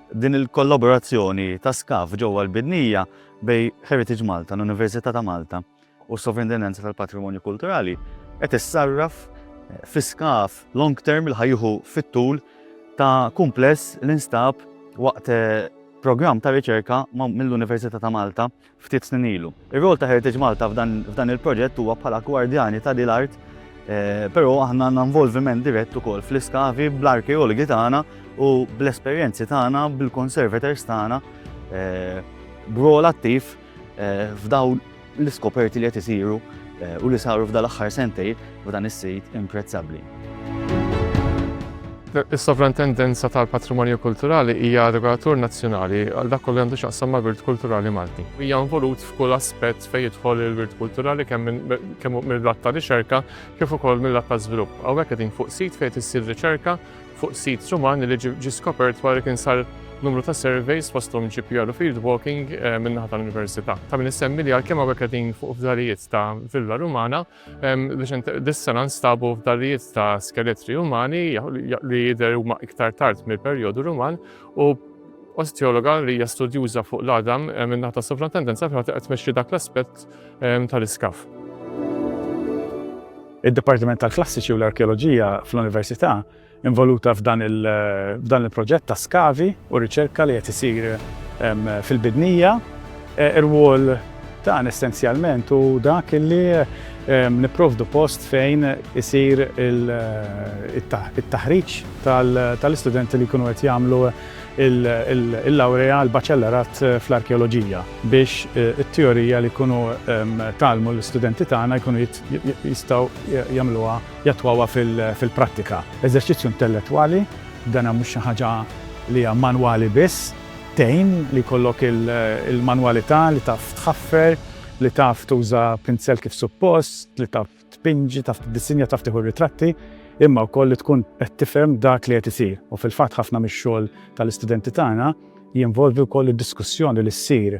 Din il-kollaborazzjoni ta' SCAF ġewwa l-Bidnija bejn Heritage Malta, l-Università ta' Malta u s-Sovrintendenza tal-Patrimonju Kulturali qed issarraf fi SCAF long term li ħa jieħu fit-tul ta' kumpless li nstab waqt programm ta' riċerka mill-Università ta' Malta ftit snin ilu. Ir-rwol ta' Heritage Malta f'dan il-proġett huwa bħala gwardjani ta' din l-art, però aħna għandna involviment dirett ukoll fl-iskavi bl-arkeologi tagħna u bl-esperjenzi tagħna bil-conservators tagħna b'rwol attiv f'dawn l-iskoperti li qed isiru u li saru f'dan l-aħħar sentejn. u dan is-sit imprezzabbli. Is-Sovrantendenza tal-Patrimonju Kulturali hija regolatur nazzjonali għal dak kollu li għandu x'jaqsam mal-wirt kulturali Malti. Hija involut f'kull aspett fejn jidħol il-wirt kulturali kemm mill-lat ta' riċerka kif ukoll mill-lat ta' żvilupp. Hawnhekk qegħdin fuq sit fejn issir riċerka fuq sit Ruman li ġie skopert wara li kien sar numru ta' surveys fosthom GPR u field walking eh, min-naħa tal-Università. Ta' min issemmi li għalkemm hawnhekk qegħdin fuq fdalijiet ta' villa Rumana, Dis-sena nstabu f'darijiet ta' skeletri umani li jidher huma iktar tard mill-perjodu Ruman u osteologa li hija studjuża fuq l-għadam minnaħ ta' sovrantendenza fejn qed tmexxi dak l-aspett tal-iskaf. Id-Dipartiment tal-Klassiċi u l-Arkeoloġija fl-Università involuta f'dan il-proġett ta' skavi u riċerka li qed isir fil-Bidnija. Ir-rwol tagħna essenzjalment hu dak li nipprovdu post fejn isir it-taħriġ tal-istudenti li jkunu qed jagħmlu l-lawrea, l-baċellerat fl-arkeoloġija biex it-teorija li jkunu tgħallmu l-istudenti tagħna jkunu jistgħu jagħmluha jattwawha fil-prattika. Eżerċizzju intellettwali, dana mhux xi ħaġa li hija manwali biss, tgħin li jkollok il-manwalità li taf tħaffer, li taf tuża pinzell kif suppost, li taf tpinġi, taf tiddisinja, taf tieħu r-ritratti, imma wkoll li tkun qed tifhem dak li qed isir. U fil-fatt ħafna mix-xogħol tal-istudenti tagħna jinvolvi wkoll id-diskussjoni li ssir